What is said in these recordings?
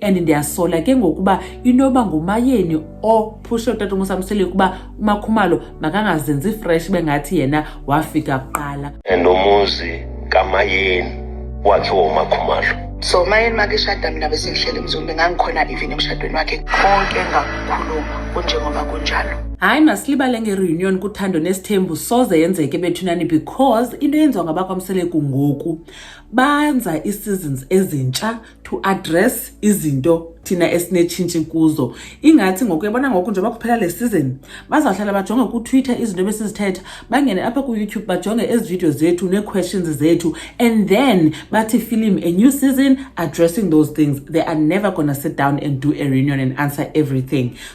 and ndiyasola ke ngokuba inoba ngumayeni ophushe utata umusamsele ukuba umakhumalo makangazenzi fresh bengathi yena wafika kuqala and umuzi kamayeni wakhe womakhumalo so umayeni makishada mina besengihlele mzumbe ngangikhona even emshadweni wakhe konke ngakukhuluma kunjengoba kunjalo hayi masilibale ngereunion kuthando nesithembu soze yenzeke bethunani because into yenziwa ngabakwamseleku ngoku banza ii-seasons ezintsha to address izinto thina esinetshintshi kuzo ingathi ngoku yabona ngoku njengoba kuphela le season bazawuhlala bajonge kutwitter izinto ebesizithetha bangene apha kuyoutube bajonge ezi video zethu nee-questions zethu and then bathi film a new season addressing those things they are never gonna sit down and do a reunion and answer everything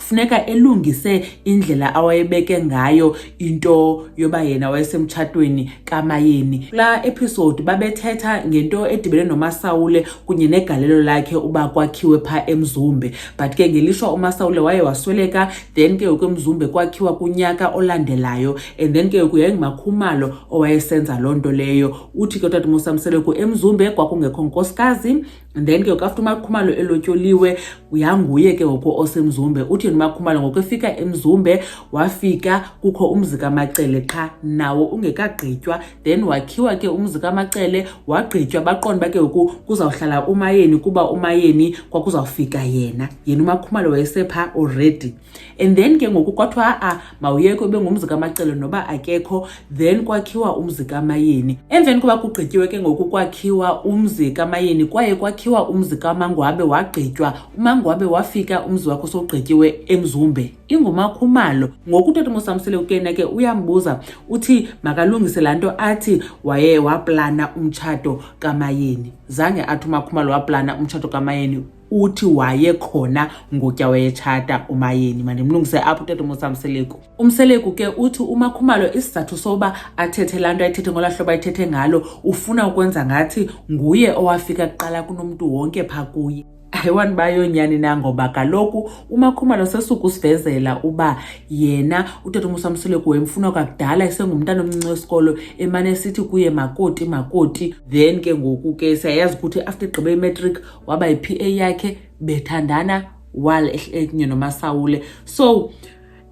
funeka elungise indlela awayebeke ngayo into yoba yena wayesemtshatweni kamayeni kula episode babethetha ngento edibene nomasawule kunye negalelo lakhe uba kwakhiwe pha emzumbe but ke ngelishwa umasawule waye wasweleka then ke yoku emzumbe kwakhiwa kunyaka olandelayo and then ke yoku yayingumakhumalo owayesenza loo nto leyo uthi ke utata musamseleku emzumbe kwakungekho nkosikazi and then ke ngoku after umakhumalo elotyoliwe uyanguye ke ngoku osemzumbe uthi yena umakhumalo ngoku efika emzumbe wafika kukho umzi kamacele qha nawo ungekagqitywa then wakhiwa ke umzi kamacele wagqitywa baqonda uba ke ngoku kuzawuhlala umayeni kuba umayeni kwakuzawufika yena yena umakhumalo wayesepha already and then ke ngoku kwathiwa a-a ah, mawuyekho ebengumzi kamacele noba akekho then kwakhiwa umzi kamayeni emveni koba kugqityiwe ke ngoku kwakhiwa umzi kamayeni kwaye kwakhiwa umzi kamangwabe wagqitywa umangwabe wafika umzi wakho sowugqityiwe emzumbe ingumakhumalo ngoku utata umosamsile ukena ke uyambuza uthi makalungise laa nto athi waye waplana umtshato kamayeni zange athi umakhumalo waplana umtshato kamayeni uthi waye khona ngutya wayetshata umayeni mandimlungise apho utata umusa mseleku umseleku ke uthi umakhumalo isizathu soba athethe laa nto ayithethe ngola hlobo ayithethe ngalo ufuna ukwenza ngathi nguye owafika kuqala kunomntu wonke pha kuye ayiwani bayonyani na ngoba kaloku umakhumalo sesuku usivezela uba yena utata umusa mseleku wemfuna kwakudala esengumntana omncinci wesikolo emane esithi kuye makoti makoti then ke ngoku ke siyayazi ukuthi after igqibe imatric waba yi-pa yakhe bethandana while ekunye nomasawule so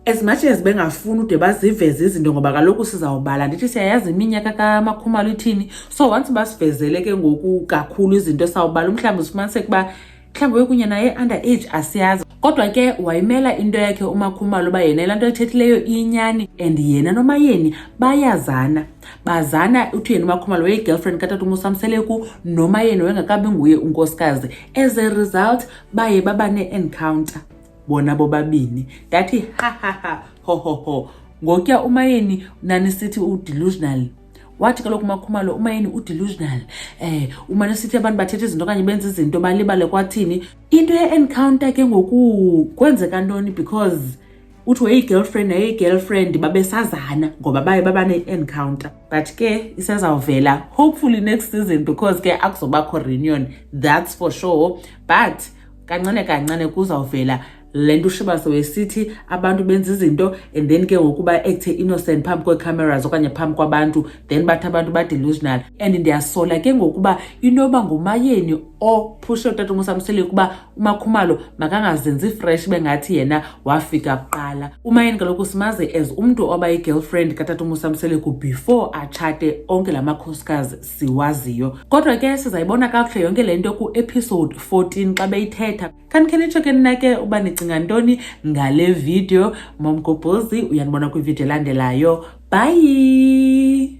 as much as bengafuni ude baziveze izinto ngoba kaloku sizawubala ndithi siyayazi iminyaka kamakhumalo ithini so once basivezele ke ngoku kakhulu izinto sawubala umhlawumbi usifumaniseke uba mhlawumbi wekunye naye under age asiyazi kodwa ke wayimela into yakhe umakhumalo uba yena laa nto ethethileyo iyinyani and yena nomayeni bayazana bazana uthuyeni umakhumalo weyigirlfriend katata umusamseleku noma yena wengakabi nguye unkosikazi as a result baye baba ne-encounter bona bobabini ndathi hahaha hohoho ngokuya umayeni nanisithi udelusional wathi kaloku umakhumalo umayeni udelusional um eh, umane sithi abantu bathetha izinto okanye benza izinto balibale kwathini into ye-encounter ke ngoku kwenzeka ntoni because uthi weyigirlfriend neyigirlfriend babesazana ngoba baye baba ne-encounter but ke isezawuvela hopefully next season because ke akuzobakho reunion that's for sure but kancane kancane kuzawuvela le nto ushiba sewesithi abantu benza izinto and then ke ngoku ba-ekthe innocent phambi kwee-cameras okanye phambi kwabantu then bathi abantu ba-delusional and ndiyasola ke ngokuba inoba ngumayeni ophushe utata umusamsele ukuba umakhumalo makangazenzi fresh bengathi yena wafika kuqala umayeni kaloku simaze as umntu oba yi-girlfriend katata umusamseleku before atshate onke la makhosikazi siwaziyo kodwa ke sizayibona kakuhle yonke le nto ku-episode 14 xa beyithetha kanikhe nitsho ke nina ke uba nicinga ntoni ngale video momgobhozi uyanibona kwividiyo elandelayo bhayi